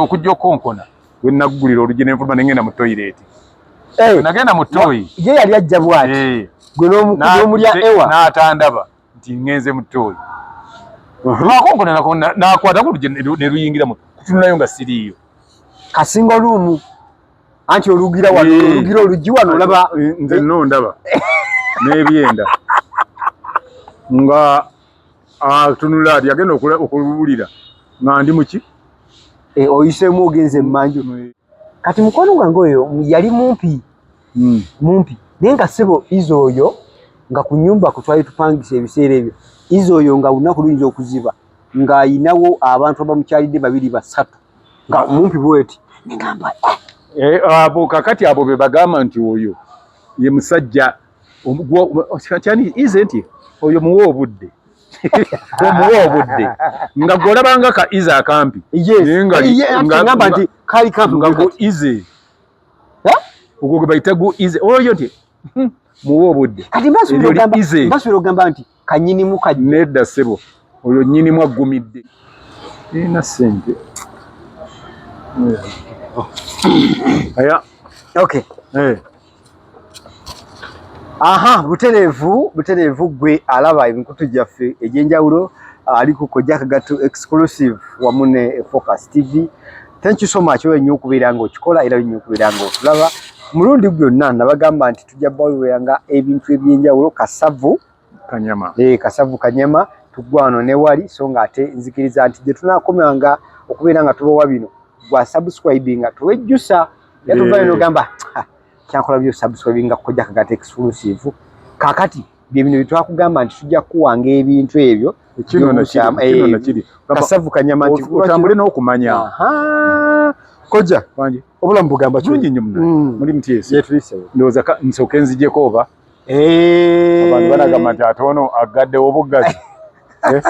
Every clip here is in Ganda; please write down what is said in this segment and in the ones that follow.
okujja okonkona we naggulira oluggi ne nfuluma ne ngenda mu toyireeti eh. nagenda mu toyi ye yali ajja bwati eh. gwe n'omulya ewa n'atandaba nti ngenze mu toyi lwakonkona uh-huh. nakwatako oluggi ne luyingira mu kutunulayo nga siriiyo kasinga oluumu anti olugira wano eh. olugira oluggi wano olaba nze no ndaba n'ebyenda nga atunula ah, ati agenda okubulira nga ndi muki eh, oyisemu ogenze mumanju mm. kati mukwano gwange oyo yali mumpi mm. mumpi naye nga sebo iza oyo nga ku nyumba kutwali tupangisa ebiseera ebyo iza oyo nga lunaku luyinza okuziba ng'ayinawo abantu abamukyalidde babiri basatu nga ah. mumpi bweti negamba eh. eh, abo kakati abo be bagamba nti oyo ye musajja kyani ize nti oyo muwa obudde omuwa obudde nga gwolabanga ka ize akampi nayengamba nti kali kampi nga go ize ogwo gwe bayita go ize oyo nti hmm, muwa obudde kati mbasubira ogamba nti kanyinimu ka nedda sebo oyo nyinimu aggumidde ina sente aya okay hey. Eh. aha butereevu butereevu gwe alaba emikutu gyaffe egyenjawulo ali ku kojja kagatu exclusive wamu ne focus tv thank you so much oyo nnyo okubeera nga okikola era nnyo okubeera nga otulaba mulundi gwonna nabagamba nti tujja bawulira nga ebintu ebyenjawulo kasavu kanyama e, kasavu kanyama tugwano newali so nga ate nzikiriza nti gye tunakomanga okubeera nga tubawa bino gwa subscribe nga tuwejjusa yatuvaayo nogamba kyankola byo subscribe nga kojja kagata exclusive kakati byebino byetwakugamba nti tujja kukuwanga ebintu ebyo kasavu kanyama nti otambule n'okumanya koja obulamu bugamba kirungi nnyo muna mm. muli mutyesi ndowooza nsooke nzijeko oba eh. abantu banagamba nti ate ono aggaddewo obuggazi eh?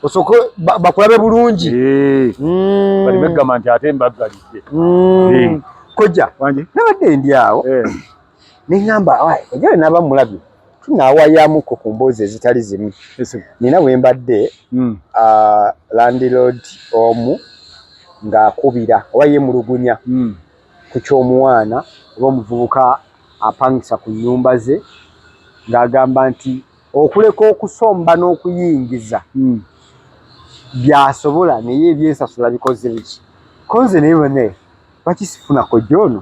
osoko bakulabe bulungi eh. mm. bali begamba nti ate mbaggalidde mm. koja nabadde ndi awo ne ŋŋamba ejale naaba mulabye tunaawayamuko ku mboozi ezitali zimu nina bwe mbadde hmm. landilord omu ng'akubira oba yemulugunya hmm. ku ky'omuwaana oba omuvubuka apangisa ku nnyumba ze ng'agamba nti okuleka okusomba n'okuyingiza hmm. byasobola naye ebyensasula bikoze biki konze naye bane bakisifunako joono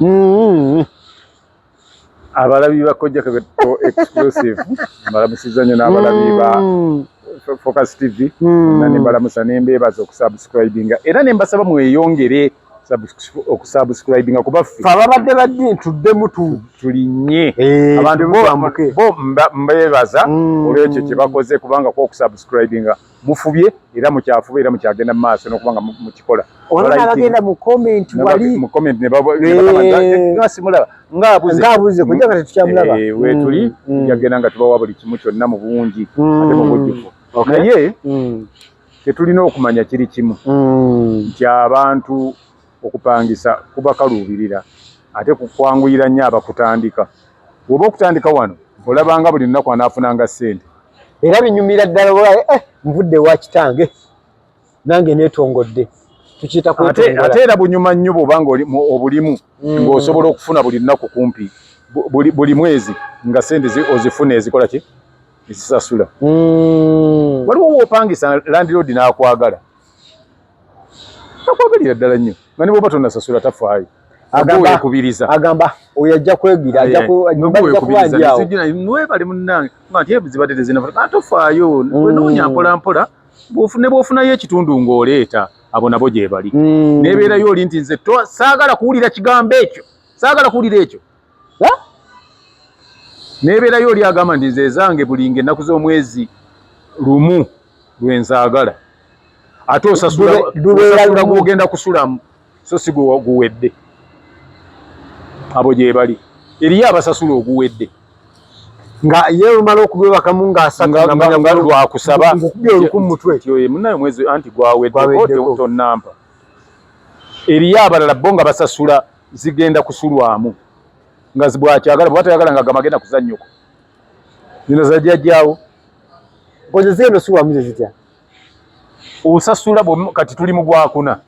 Mm-hmm. abalabi bakojja kebeto exclusive mbalamusiza nnyo n'abalabi ba mm. focus tv mm. na nembalamusa nembeebaza okusubscribinga era nembasaba mweyongere okusubscribinga kubaffe ababadde baddi tuddemu tulinye eh, abantu bo mbeebaza mm. olwekyo kyebakoze kubanga kwokusubscribinga mufubye era mukyafuba era mukyagenda mumaaso nokuba nga mukikola olabagenda mu comment wali mu comment ne baba simulaba nga abuze nga abuze kujja kati tukyamulaba eh we tuli yagenda mm, mm. nga tubawa buli kimu kyonna mu bungi mm. ate mu bujjuvu naye tetulina okumanya kiri kimu nti abantu okupangisa kubakaluubirira ate kwanguyira nnyo abakutandika. Bw'oba okutandika wano olaba nga buli lunaku anaafunanga ssente. Era binyumira ddala olaba eh, eh nvudde ewa kitange nange neetongodde. Tukiyita kwetongola. Ate era bunyuma nnyo bw'oba nga obulimu mm. ng'osobola okufuna buli lunaku kumpi buli mwezi nga ssente ozifuna ezikola ki ezisasula. Mm. Waliwo w'opangisa landiroodi n'akwagala. akwagalira ddala nnyo nga ne bwoba tonasasula tafaayo agambakubiriza agamba oyo ajja kwegira ajjakubanjawewebale munange ngati ebuzibadde tezinafuna tofaayo mm. wenoonya mpolampola ne bwofunayo ekitundu ng'oleeta abo nabo gyebali mm. nebeerayo oli nti nze saagala kuwulira kigambo ekyo saagala kuwulira ekyo nebeerayo oli agamba nti nze ezange bulinga ennaku z'omwezi lumu lwenzaagala ate osasula gwogenda kusulamu so si guwedde abo gyebali eriyo abasasula oguwedde nga ye omala okubwebakamu ngaasagalwakusaba ngokubya oluku mumutwe munaye mwezi anti gwaweddeko tonampa eriyo abalala bo nga basasula zigenda kusulwamu nga zibwakyagala bwata yagala nga gamagenda kuzanyoko nino zajja jawo boze zeno suwa mze zitya usasula bo kati tuli mu gwakuna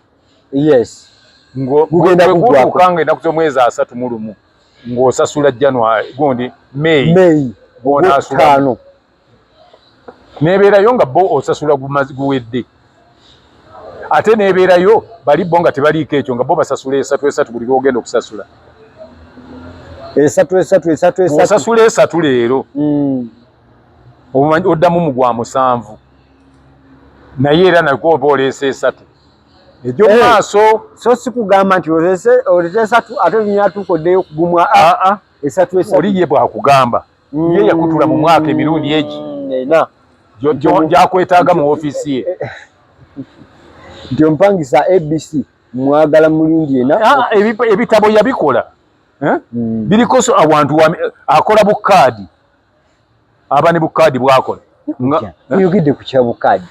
yes ngo gugenda kugwa kanga enda kuzo mwezi asatu mulumu ngo sasula january gondi may may bona asula nebeerayo nga bo osasula guwedde ate nebeerayo bali bo nga tebaliiko ekyo nga bo basasula esatu esatu buli lwogenda okusasula esatu esatu esatu esatu osasula esatu leero mm. oddamu mu gwa musanvu naye era nakwo oba oleesa esatu egyo eh, maaso so sikugamba nti olesa esatu ate nyatuuka oddeyo kugumwa aa ah, ah. esatu esatu oli ye bwakugamba mm. ye yakutula mu mwaka emirundi egi mm, gyakwetaaga mu ofiisi ye nti ompangisa abc mwagala mulundi ena ah, ebitabo yabikola eh? mm. biriko awantu akola bukaadi aba ne bukaadi bwakola oyogedde ku kya bukaadi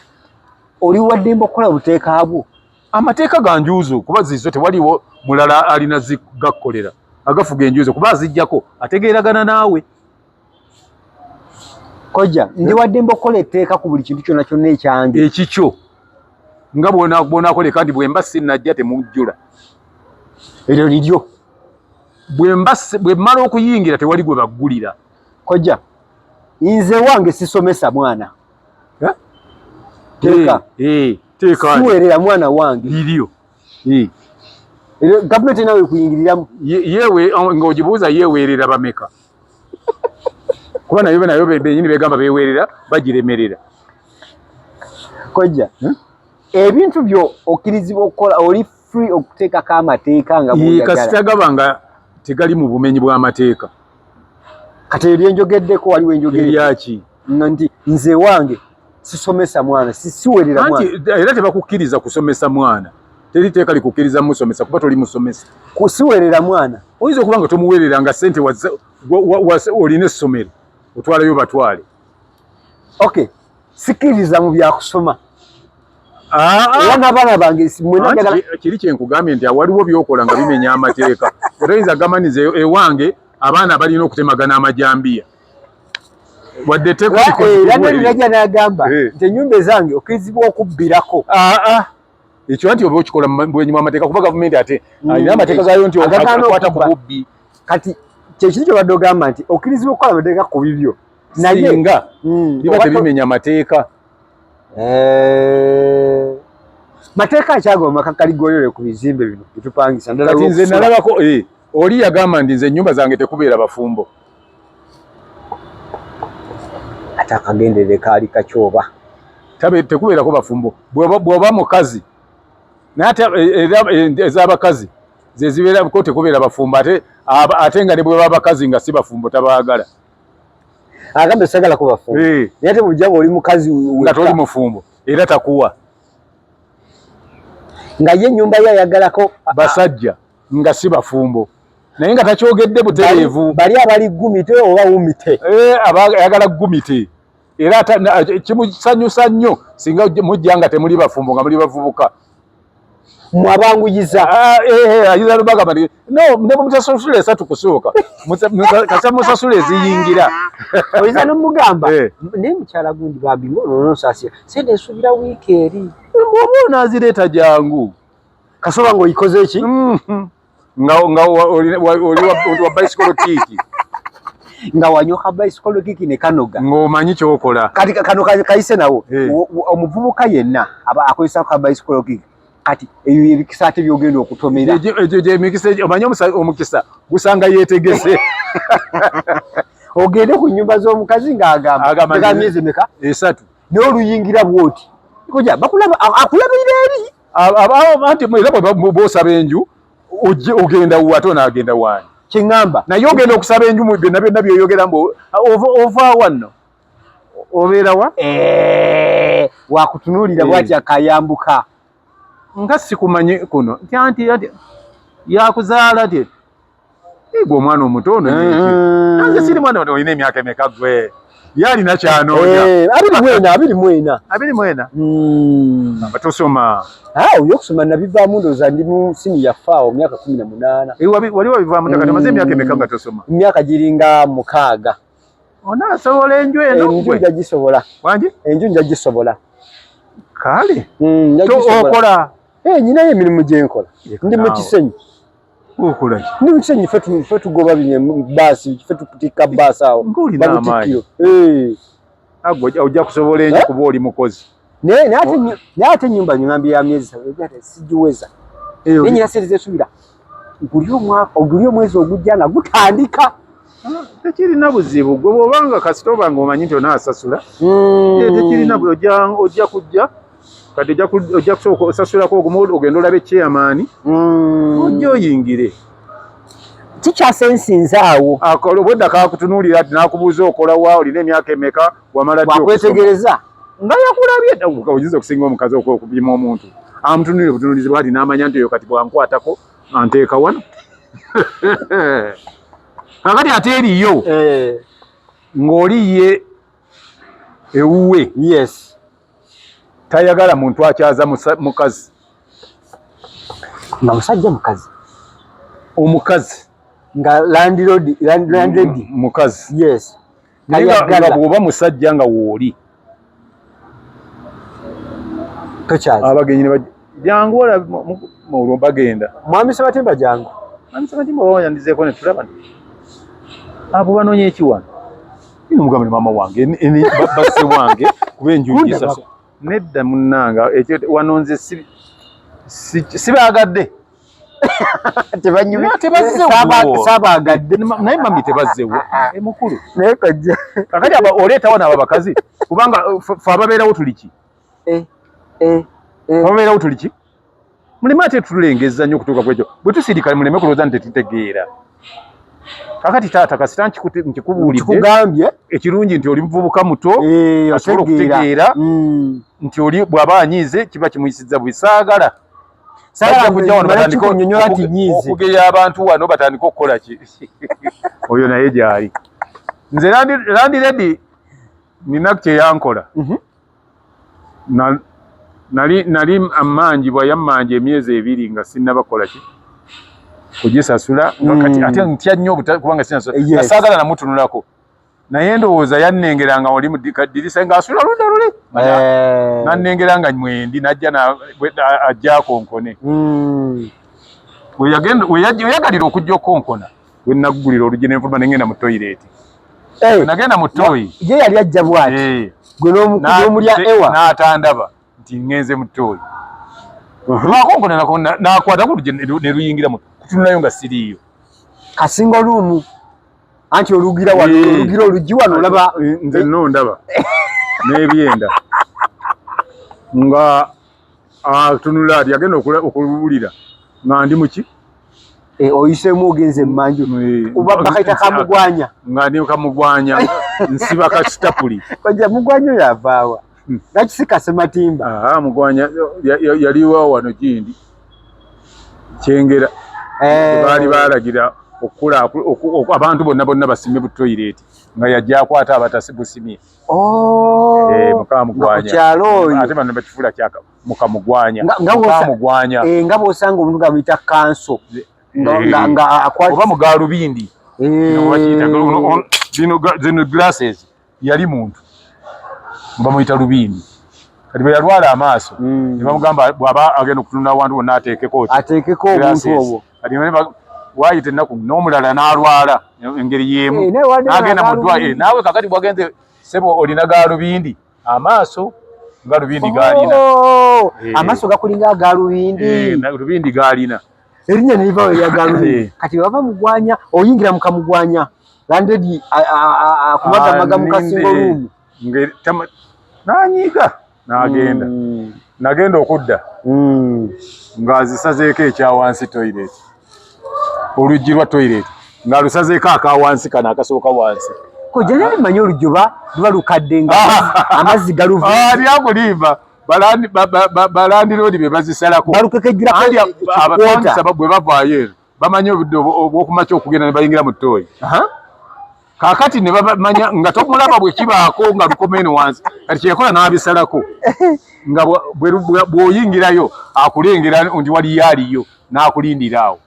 oli waddembe okukola buteeka bwo amateeka ga njuuzo kuba zizo tewaliwo mulala alina zigakkolera agafuga enjuuzo kuba azijjako ategeeragana naawe koja ndi wadde mba okukola etteeka ku buli kintu kyona kyonna ekyange ekikyo nga bwonakola kandi bwemba sinajja temujjula eryo liryo bwemmala okuyingira tewali gwe baggulira koja nze wange sisomesa mwana teeka teeka siwerera mwana wange lilio eh government nawe kuyingiriramu yewe oh, ngojibuza yewerera bameka kuba nayo bena yobe benyini begamba bewerera bajiremerera kojja hmm? ebintu byo okirizibwa okukola oli free okuteekako amateeka nga kasita gaba nga tegali mu bumenyi bw'amateeka kati ebyo byenjogeddeko waliwo enjogeryaki nti nze wange sisomesa mwana siwerera era tebakukkiriza kusomesa mwana teri teeka likukkiriza musomesa kuba toli musomesa kusiwerera mwana oyinza okuba nga tomuwerera nga sente olina essomero otwalayo batwale okay sikiriza mu byakusoma era n'abaana bange kiri kyenkugambye nti awaliwo byokola nga bimenya amateeka otoyinza gamaniza e-, ewange abaana balina okutemagana amajambiya wadde tekoeranaja nagamba eh. nti enyumba ezange okirizibwa okubbirako ah, ah. ekyo nti oba okikola bwenyi mwamateeka kuba gavumenti ate mm. alina amateeka gayo nti akwata ku bubbi kati kyekiri kyobadde ogamba nti okirizibwa okukola amateeka ku bibyo singa hmm, biba tebimenya mateeka eh, mateeka akyagoma kakaligoyole ku bizimbe bino bitupangisa ndalati nze nalabako eh, oli yagamba ndi nze ennyumba zange tekubeera bafumbo ate akagendere kaali kakyoba tabe tekubeerako bafumbo bwoba mukazi naye ate eh, ez'abakazi zezibeerako tekubeera bafumbo ate ate nga ne bweba abakazi nga si bafumbo tabaagala agamba sagala ko bafumbo hey. naye te bujja oli mukazi nga toli mufumbo era takuwa nga ye nyumba ya yagala ko basajja nga si bafumbo naye nga takyogedde butereevu bali abali gumite oba wumite eh, ayagala gumite era kimusanyusa nnyo singa mujja nga temuli bafumbo nga muli bavubuka mwabanguyiza ah, eh, eh, ayiza lubagamba ne mutasasula esatu kusooka kasa musasula eziyingira oyiza nomugamba eh. naye mukyala gundi bambi ngononosasira sente nsubira wiiki eri oba onazireeta jangu kasoba ngaoyikoze ki mm-hmm. nga nga oli wa bicycle kiki nga wanyuka bicycle kiki ne kanoga ngomanyi kyokola kati kano kaise nawo eh. omuvubuka yenna aba akozesa ka bicycle kiki kati eyo ebikisa ate byogenda okutomera ejo je mikisa omanyi omukisa gusanga yetegese ogende ku nyumba z'omukazi ng'agamba myezi meka esatu naye oluyingira bwoti koja bakulaba akulabirira eri abawo anti era bwosaba enju ogenda wa ate onagenda waani kiŋamba naye ogenda okusaba enju mu byonna byonna byoyogera mbu ova wanno obeera wa eh, wakutunuulira eh. bwatya kayambuka nga sikumanyi kuno nti anti yakuzaala ti Ego omwana omuto ono yeye. Mm. Nange siri mwana ono oyina emyaka emeka gwe. Yali na kyano oja. Eh, abiri mwena, abiri mwena. Abiri mwena. Mm. Abatosoma. Ah, uyo kusoma na biva mundo za ndimu sini ya fao miaka 18. Ewa wali wali biva mundo kati maze myaka emeka batosoma. Myaka jiringa mukaga. Ona sobola enju eno gwe. Enju jajisobola. Wanje? Enju jajisobola. Kale. Mm, jajisobola. To okola. Eh, nyina ye mirimu jenkola. Ndi mu kisenyi. okola ki ni mukisanye fe tu fe tugoba binye basi fe tukutika basi awo nguli na amayi eh agwa oja kusobola enyo eh? kuba oli mukozi ne ne ate nyo ne ate nyumba nyambi ya miezi sawe ate sijuweza eyo ninyi na serize subira ngulio mwaka ogulio mwezi ogujja nga gutandika tekirina buzibu gwe bwobanga kasita obanga omanyi nti onaasasula hmm. tekirina bwe ojja kujja kati ojja kusooka osasulako ogumu ogenda olabe chairman mm. ojja oyingire kikyasensinza awo obwedda kakutunuulira ti nakubuuza okolawa olina emyaka emeka wamala wakwetegereza nga yakulabyeyinza okusinga omukazi okupima omuntu amutunulire obutunulizi bwati namanya nti oyo kati bwankwatako anteeka wano kakati ate eriyo eh. ng'oli ye ewuwe yes tayagala muntu akyaza mukazi nga musajja mukazi omukazi nga landlord landlord mukazi yes tayagala bwoba musajja nga wooli tokyaza abagenyi ne Jangu ola mu bagenda. Mwami Sebatimba jangu. Mwami Sebatimba wao yandizeko ne tulaba. Abo banonye ki wano? Ni mugambe mama wange ni baba se wange kube njuji sasa. Nedda munanga ekyo wanonze si sibagadde. Tebanyumi tebazze wo. Sabagadde naye mami tebazze wo. E mukulu. Naye kajja. Kakati aba oleta wana ababakazi kubanga uh, fa babera wo tuliki. eh, eh, eh. obeerawo tuli ki muleme ate tulengezza nnyo okutuuka kwekyo bwe tusirikale muleme kulowooza nti tetutegeera kakati taata kasita nkikubuuliddekugambye ekirungi nti oli muvubuka muto eh, asobola okutegeera hmm. nti oli bw'aba anyiize kiba kimuyisizza bwe saagala okugeya abantu wano batandika okukola ki oyo naye gyali nze landiredi nina kyeyankola mhm. Nali nali ammanjibwa yammanja emyezi ebiri nga sinnaba kukola ki kugisasula nga kati mm. ate ntya nnyo kubanga sinasula eh, nga saagala namutunulako naye ndowooza yannengera nga oli mudikaddirisa ng'asula luda luli eh. nannengera nga mwendi najja ajja akonkone mm. weyagalira okujja okukonkona wenaggulira oluggi nenfuluma nengenda mu toyireeti eh, nagenda mu tooyi ye yali ajja bwati eh. gwe n'omulya ewa n'atandaba nti ngenze mu tooyi uh-huh. lwakonkonanako nakwata ku luggi ne luyingira mu kutunulayo nga siriiyo kasinga oluumu anti olugira wano eh. olugira oluggi wano olaba nze no ndaba n'ebyenda nga atunula ah, ati agenda okuwulira nga ndi muki eh, oyisemu ogenze emanju eh, oba bakaita kamugwanya nga ndi kamugwanya nsiba kasitapuli koja mugwanya oyo avaawa hmm. nakisika sematimba ah, mugwanya yaliwa wano gindi kyengera eh. baali balagira okukula abantu bonna bonna basime butoyireti nga yajja akwata abatasibusimye Oh, eh, nga bwosanga omuntu gamuyita kanso nga akwatioba mugalubindi zino glasses yali muntu bamuyita lubindi kati bwe yalwala amaaso mm. ne bamugamba bw'aba agenda okutunula awantu wonna ateekeko ateekeko obuntu obwo wayita ennaku n'omulala n'alwala engeri y'emu eh, n'agenda mu ddwa eh, naawe kakati bwagenze sebo olina gaalubindi amaaso galubindi gaalina oh, eh. amaaso gakulinga agaalubindi lubindi gaalina erinnya neriva we yagalubindi kati bava mugwanya oyingira mu kamugwanya landedi akumagamaga mu kasingo luumu nanyiga n'agenda mm. nagenda okudda mm. ng'azisazeeko ekyawansi toilet oluggi lwa toilet ng'alusazeeko akawansi kano akasooka wansi kojja naye manyi oluggi oba luba lukadde nga amazzi galuvualyakulimba ah, balandiroodi be bazisalako balukekejjulabwe bavaayo eno bamanyi obudde obwokumakya okugenda ne bayingira mu ttooyi kakati ne bamanya nga tomulaba bwe kibaako nga lukoma eno wansi kati kyeyakola n'abisalako nga bw'oyingirayo akulengera nti waliyo aliyo n'akulindira awo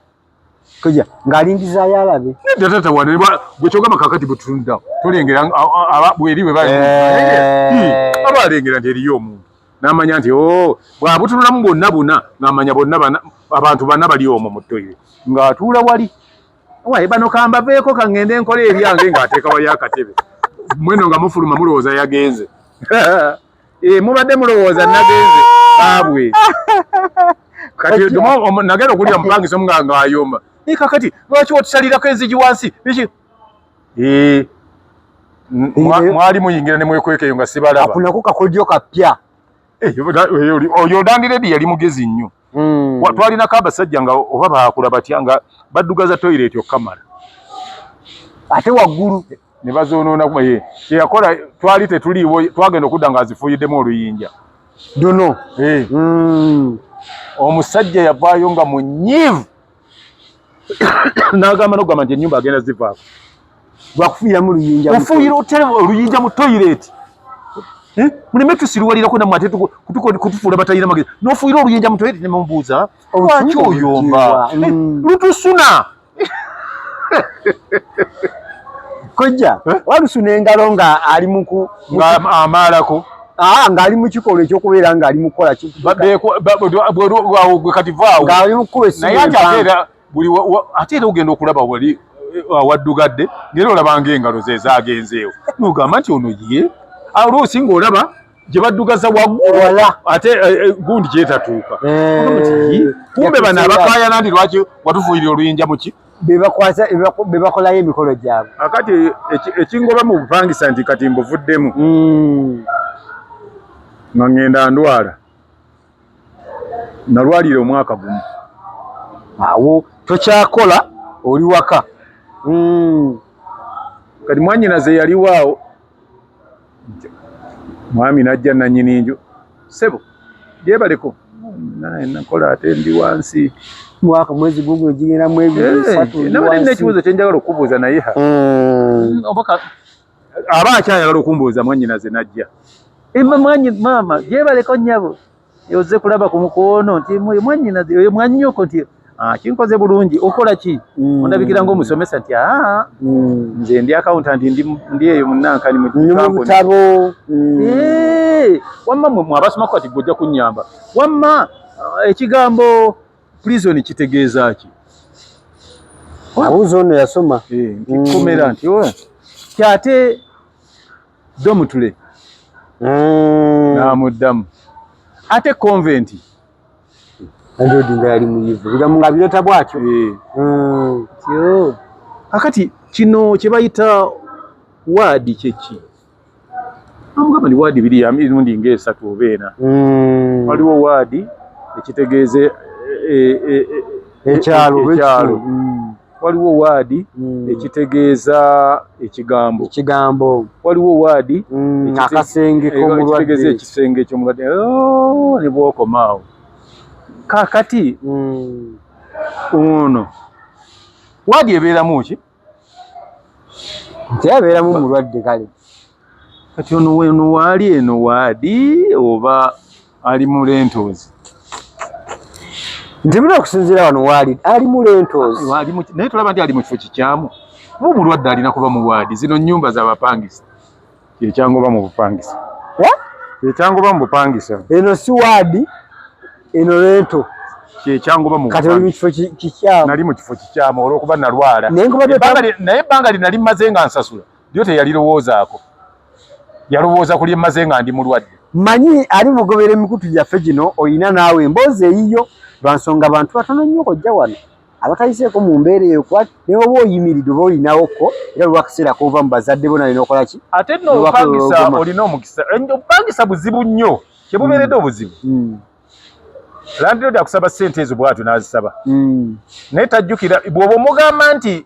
koja ng'alindizaayo alabe nedda tata wane gwe kyogamba kakati bwe tutunuddawo tolengera bweri bwe bali eh. aba alengera nti eriyo omuntu n'amanya nti o oh, bwabutunulamu bwonna buna ng'amanya bonna abantu bana bali omwo mu toyire ng'atuula wali waye bano kambaveeko kaŋŋende nkola ebyange ng'ateeka wali akatebe mweno nga mufuluma mulowooza yagenze eh, mubadde mulowooza nagenze baabwe kati nagenda okulira mupangisa omunganga ayomba eh, kakati lwaki otusalirako enzigi wansi Eh, mwali muyingira ne mwekweka eyo nga sibalaba. Akunako kakodyo kapya. Eh, oyo dandire di yali mugezi nnyo. Mm. Twali na kaba sajja nga oba baakula batya nga baddugaza toilet okamala. Ate waggulu ne bazoonoona kuma ye. Kye yakola twali tetuliiwo twagenda okudda nga azifuuyiddemu oluyinja. Duno. Eh. Mm. Omusajja yavaayo nga munyivu. n'agamba n'okugamba nti ennyumba agenda zivaako lwakufuuyiramu luyinja ofuuyira otya oluyinja mu toyireeti eh? muleme tusiruwalirako namwe ate kutufuula batalina magezi n'ofuuyira oluyinja mu toyireeti nemubuuza lwaki oyomba eh, mm. lutusuna kojja eh? walusuna engalo nga ali muku amaalako Ah, ngali mu kikolwa ekyokubeera ngali mu kukola kati vaawo ngali mu kukuba esimu naye ate ateera buli ate era ogenda okulaba wali eh, awaddugadde naye olabanga engalo ze zaagenzeewo nogamba nti ono ye oluusi ah, ng'olaba gye baddugaza waggulu ate eh, eh, gundi gyetatuuka kumbe bano abakaayana ndi lwaki watufuuyira oluyinja muki bebakwasa bebakolayo emikolo gyabwe akati ekingoba mu bupangisa nti kati mbuvuddemu hmm. nga ngenda ndwala nalwalira omwaka gumu awo tokyakola oli waka hmm. kati mwanyinaze yaliwaawo mwami najja nanyini nju sebo jebaleko naye nakola ate ndi wansi mwaka mwezi gugu ejigera mwezi eh, satu ndi wansi nabadde nekibuzo kyenjagala okubuuza naye ha mm. obaka aba akyayagala okumbuuza mwanyinaze najja emma mwanyi mama jebaleko nyabo Yoze kulaba ku mukono nti mwanyina oyo mwanyoko nti ah, kinkoze bulungi okola ki mm. ondabikira nga omusomesa nti ah, mm. nze ndi accountant ndi ndi eyo munankani mu mutabo mm. eh wamma mwe mwabasoma kati gojja kunyamba wamma ah, ekigambo prison kitegeeza ki abuzo ono yasoma eh, nti komera nti oh, kyate Domutule mm. n'amuddamu ate konventi andi odinga yali muyivu bigamu nga birota bwatyo eh. mm. kakati kino kye bayita waadi kyeki amugamba ni waadi biri emirundi ng'esatu oba ena mm. waliwo waadi ekitegeeza e, e, e, ekyalo ekyalo mm. waliwo waadi mm. ekitegeeza ekigambo ekigambo waliwo waadi mm, akasenge k'omulwadde ekisenge ky'omulwadde oh, ne bwokoma awo kakati mm. ono waadi ebeeramu ki nti abeeramu mulwadde kale kati ono weno waali eno waadi oba ali mu lentoozi nti muna okusinziira wano waali ali mu lentoozi naye tulaba nti ali mu kifo kikyamu mu bulwadde alina kuba mu waadi zino nnyumba z'abapangisa kyekyangoba mu bupangisa kyekyangoba mu bupangisa eno si waadi eno lento kyekyangoba mu kati oli mu kifo kikyamu nali mu kifo kikyamu olw'okuba nalwala naye ebbanga lye nali mmaze nga nsasula lyo teyalirowoozaako yalowooza ku lyemmaze nga ndi mulwadde manyi ali mugobera emikutu gyaffe gino olina naawe emboozi eyiyo lwa nsonga bantu batono nnyo kojja wano abatayiseeko mu mbeera eyo kuba naye oba oyimiridde oba olinawo ko era lwakiseera koova mu bazadde bo nalina okola ki ate no opangisa olina omukisa opangisa buzibu nnyo kyebubeeredde mm. obuzibu mm. landiroodi akusaba ssente ezo bwatyo n'azisaba mm. naye tajjukira bw'oba omugamba nti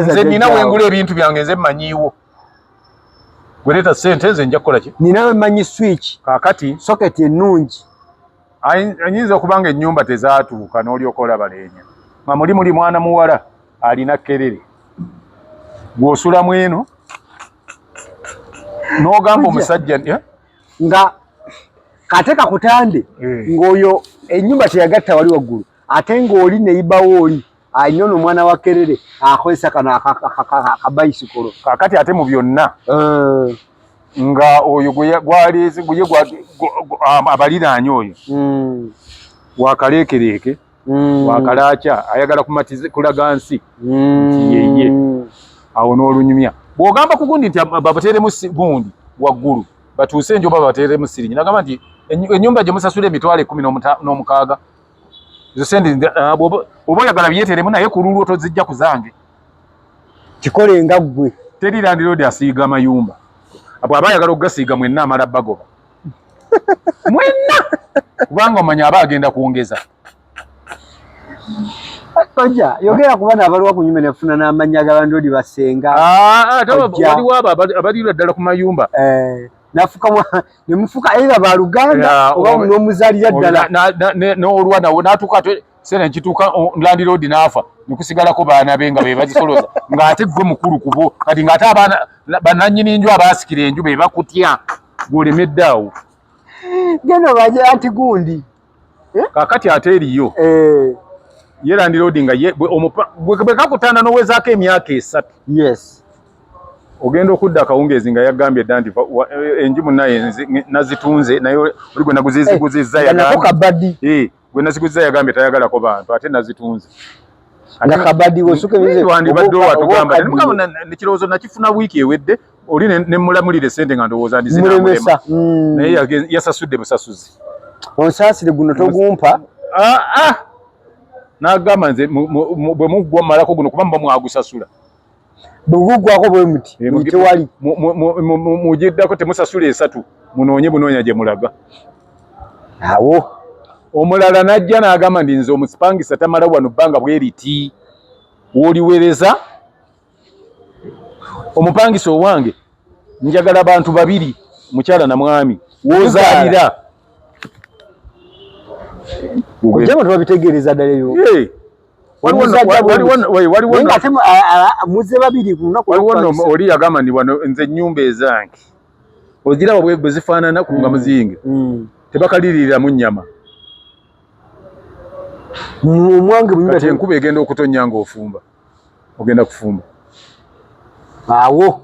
nze nina wengula ebintu byange nze manyiiwo gwereeta sente nze nja kukola ki nina wemanyi switch kakati socket ennungi anyinza okuba nga ennyumba tezatuuka n'olyoka olaba leenya nga muli muli mwana muwala alina kerere gw'osulamu eno n'ogamba omusajja eh? nga kate kakutande eh. ng'oyo ennyumba teyagatta wali waggulu ate ng'oli neyibawo oli alina ono omwana wa kerere akozesa kano akabayisikolo kakati ate mu byonna eh. nga oyo gwaleeze guye abaliraanya oyo hmm. wakaleekereeke hmm. wakalaakya ayagala kulaga nsi hmm. nti yeye awo n'olunyumya bw'ogamba ku gundi nti babateeremu gundi waggulu batuuse enjoba babateeremu sirinyi nagamba nti ennyumba gye musasula emitwalo ekkumi n'omukaaga zisente uh, bwoba oyagala byeteremu naye ku lulwo tozijja ku zange kikole nga ggwe teri landiroodi asiiga amayumba abo aba ayagala okugasiiga mwenna amala bagoba mwenna kubanga omanya aba agenda kwongeza kojja yogera ku bana abaliwo ku nyumba nefuna n'amannya g'abandoodi basenga ah, ah, waliwo abo abalirwa ddala ku mayumba eh, nafukamwa ne mufuka era ba luganda oba um, nomuzalira ddala n'olwa nawe natuuka ate sena nkituuka landiroodi n'afa nekusigalako baana be nga bebazisoloza ng'ate gwe mukulu kubo kati ng'ate abaana bananyini enju abaasikira enju be bakutya gwolemedde awo geno baje anti gundi eh? kakati ate eriyo eh. ye landiroodi nga bwekakutanda nowezaako emyaka esatu yes ogenda okudda akawungeezi nga yagambye dda nti eh, enju munaye nazitunze naye oli gwe naguziziguzizza eh, gwe naziguzizza yagambye tayagalako bantu ate nazitunze nakabadi wesukewandibadde watugamba nekirowoozo nakifuna wiiki ewedde oli ne mulamulire sente nga ndowoza ndi zina mulemesa mm. naye yasasudde busasuzi onsasire guno togumpa ah ah nagamba nze bwe mugwa malako guno kuba mba mwagusasula bugugwako bwe muti tewali mujiddako temusasula esatu munoonye bunoonya gye mulaga awo omulala najja nagamba ndi nze omusipangisa tamala wano bbanga bweriti woliwereza omupangisa owange njagala bantu babiri mukyala na mwami wozalira ojjama tebabitegeereza ddala ebyo muze babiri oli yagamba ndi wano nze ennyumba ezange oziraba bwe zifaanana kunga mm. muzinge mm. tebakaliriiramu nnyama omwange enkuba egenda okutonnya ng'ofumba ogenda kufumba awo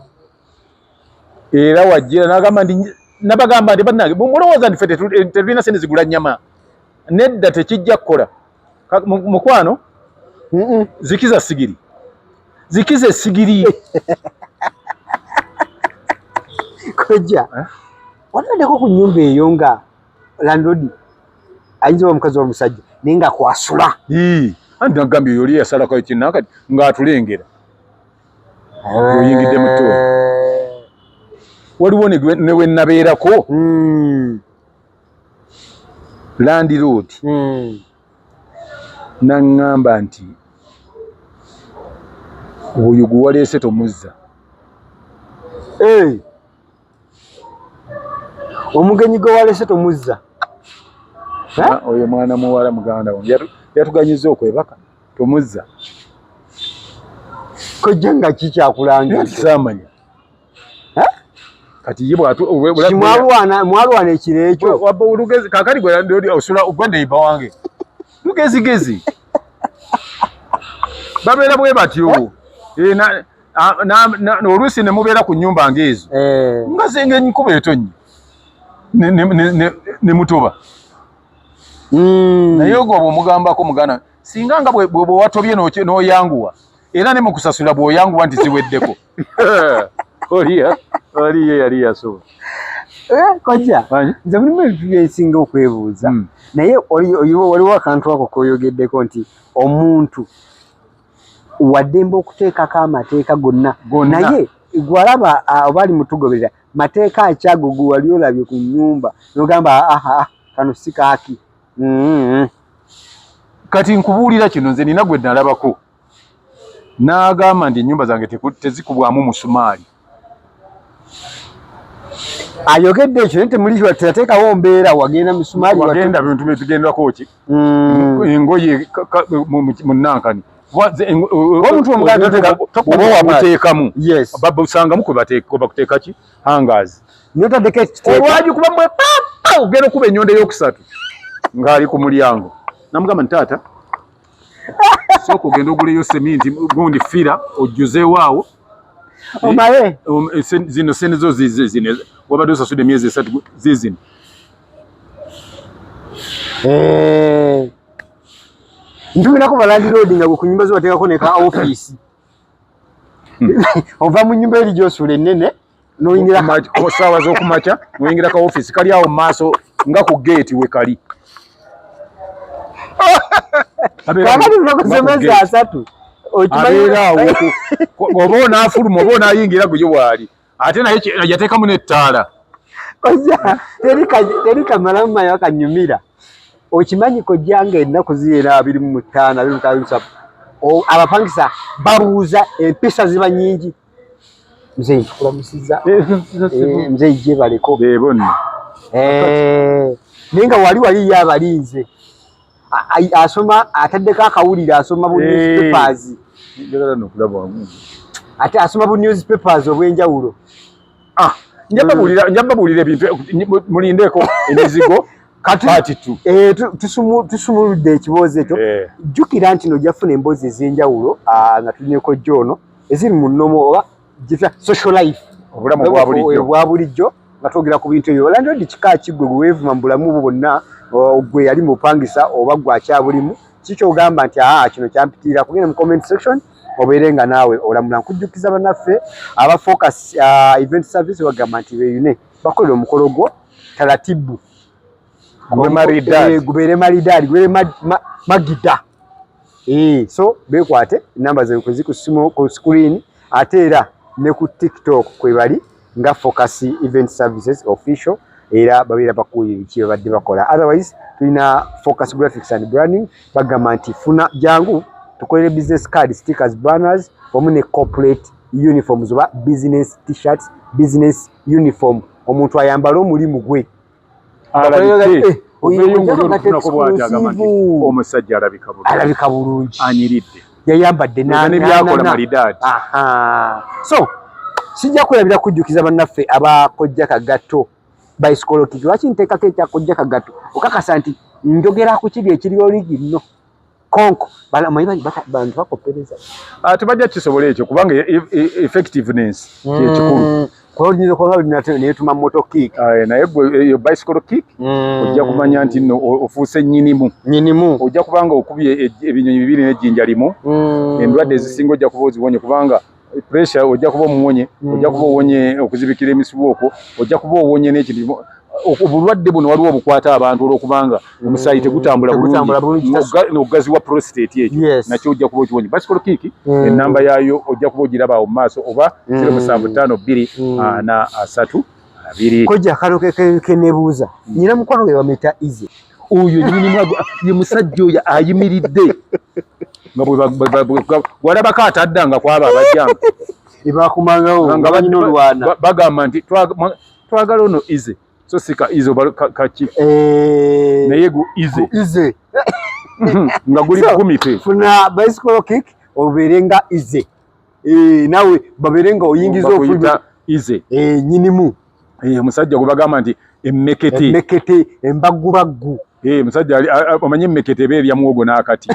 era wajjira nagamba nti nabagamba nti banange mulowooza nti fe tetulina sente zigula nyama nedda tekijja kukola mukwano zikiza sigiri zikiza esigiri kojja eh? wanaddeko ku nyumba eyo nga landlord ayinza oba omukazi omusajja naye nga kwasula anti nagambye yoli yasalako ekinna kati ngaatulengera eh. oyingidde muto waliwo newenabeerako hmm. landlord hmm. naŋŋamba nti oyo gwe waleese tomuzza eh. omugenyi gwe walese tomuzza oyo mwana muwala muganda wange yatuganyiza okwebaka tomuzza kojja nga kikyakulangisamanya kati ye bwatu mwalwana mwalwana ekiro ekyo wabba olugezi kakali gwe ndi osula ogwa neiba wange lugezigezi babeera bwe batyo eh? eh, ah, oluusi ne mubeera ku nnyumba ng'ezo eh. nga zenga enkuba etonnye ne mutoba hmm. naye ogwo bwomugambako mugana singa nga bwewatobye n'oyanguwa era ne mukusasula bw'oyanguwa nti ziweddeko oliya oliye yali yasoba Eh, kojja nze mulimu ebintu byensinga okwebuuza hmm. naye waliwo akantu ako koyogeddeko nti omuntu waddembe okuteekako amateeka gonna naye gwalaba oba ali mutugoberera mateeka akyago gwe wali olabye ku nyumba nogamba aha kano si kaaki mm-hmm. kati nkubuulira kino nze nina gwe nalabako n'agamba nti ennyumba zange tezikubwamu musumaali ayogedde ekyo naye temuliwa teyateekawo mbeera wagenda misumaali wagenda bintu byetugendako ki mm. engoye munankani omuntu omugaatoteekamu babusangamu kwebakuteeka ki hangazi notadeko olwagi kuba mwe papa ogenda okuba enyondo eyokusatu ngaali ku mulyango namugamba nti taata sooka ogenda oguleyo seminti gundi fira ojjuzeewo awo omaye eh, um, eh, zino sente zo zizino wabadde osasude emyezi esatu zizino eh. ntumirako balandiroodi nga gwekunyumba zibateekako neka ofiisi hmm. ova mu nyumba eri gyosula enene noyingira ku saawa z'okumakya noyingira ka office kali awo maaso nga ku gate we kali oba onafuluma oba onayingira guyo waali ate naye yatekamu nettaala teri kamalamu mayo akanyumira okimanyi kojjanga ennaku ziyera abiri mu mutaano abiri mutaano abapangisa babuuza empisa ziba nyingi Mzee nkulamusiza. Eh, eh, mzee ije baliko. Be bonna. Eh. Ninga wali wali ya balinze. Asoma ataddeko akawulira asoma bu newspapers. Eh. Njagala no kulaba wamu. Ate asoma bu newspapers obwenjawulo. Ah, njaba bulira njaba bulira ebintu mulindeko emizigo. kati tu eh tusumu tusumuludde ekiboozi ekyo eh. jjukira nti no jafuna emboozi ez'enjawulo ah, nga tulineko joono eziri mu nnomo oba gita social life obulamu bwa bulijjo nga twogera ku bintu ebyo landlord kika ki gwe weevuma mu bulamu bwo bwonna gwe yali mupangisa oba gwe akyabulimu kikyogamba nti aa kino kyampitiira kugenda mu comment section obeere nga naawe olamula nkujjukiza banaffe aba focus event service bagamba nti beyune bakolera omukolo gwo talatibu gubeere maridaadi gubeere magida eh, so bekwate namba zekwezi ku simu ku screen ate era ne ku tiktok kwebali nga focus event services official era babeera bakuuye biki babadde bakola otherwise tulina focus graphics and branding bagamba nti funa jangu tukolere business card stickers banners wamu ne corporate uniforms oba business t-shirts business uniform omuntu ayambale omulimu gwe omusajja alabika bulungi anyiridde yayambadde nebyakola malidaadi so sijja kulabira kujjukiza bannaffe abakojja kagatto baisikoloki lwaki nteekako ekyakojja kagatto okakasa nti njogera ku kiri ekiri oligino konko balamanyi bangi bantu bakoppereza ah, tebajja kisobola ekyo kubanga e, e, e, effectiveness kyekikulu mm. kolinza okuba nga nate neyetuma moto kick ah, eh, naye gwe eyo eh, bicycle kick mm. ojja kumanya nti no ofuuse nyinimu nyinimu ojja kubanga okubye ebinyonyi bibiri nejjinja limu mm. endwadde ezisinga ojja kuba oziwonye kubanga pressure ojja kuba omuwonye mm. ojja kuba owonye okuzibikira emisibu okwo ojja kuba owonye n'ekintu obulwadde buno waliwo obukwata abantu olwokubanga mm. omusaayi tegutambula bulungi nokugaziwa prostate ekyo nakyo ojja kuba okiwonye basikolo kiiki mm. enamba yaayo ojja kuba ogiraba awo mu maaso oba zero musanvu ttaano bbiri ana asatu kojja akalo kenebuuza nyina mukwano we bamuyita ize oyo nyinimu ye musajja oyo ayimiridde walabako atadda nga kwaba abajjanga ebakumangawo nga banyina olwana bagamba nti twagala ono ize so sika ize kaki eh. naye gu ize ize nga guli kumi pe funa bicycle kick obeere nga ize eh nawe babere nga oyingiza okuyita ize eh nyinimu eh musajja gubagamba nti emmekete emmekete embagubaggu eh musajja omanye emmekete be bya muwogo nakati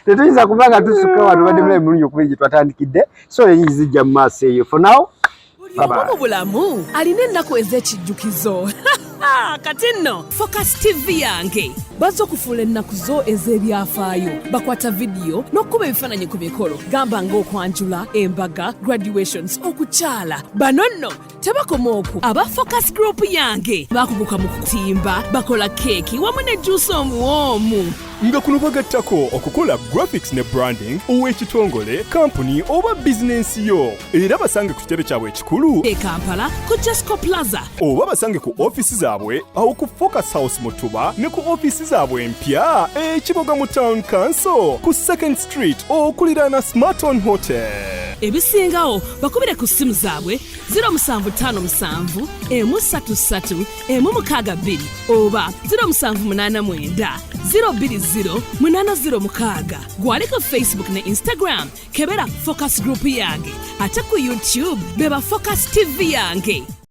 tetuyinza kubanga tusukka wano badde mulayi mulunyo kuba egye twatandikidde so eyinzijja mu maaso eyo for now buli omu mu bulamu alina ennaku ez'ekijjukizo kati nno focus tv yange bazze okufuula ennaku zo ez'ebyafaayo bakwata vidiyo n'okukuba ebifaananyi ku mikolo gamba ng'okwanjula embaga graduations okukyala bano nno tebakoma oku aba focus group yange bakuguka mu kutimba bakola keeki wamu ne juusi omuwoomu nga kuno bagattako okukola graphics ne branding ow'ekitongole kampuni oba bizinensi yo era basange ku kitebe kyabwe ekikulu e kampala ku jasco plaza oba basange ku ofisi zaabwe awo ku focus house mutuba ne ku ofisi zaabwe empya ekiboga mu town council ku second street okuliraana smarton hotel ebisingawo bakubire ku ssimu zaabwe 0757 emu 33 emu mukaaga bbiri oba 0789 020 806 gwali ku facebook ne instagram kebera focus group yange ate ku youtube beba focus tv yange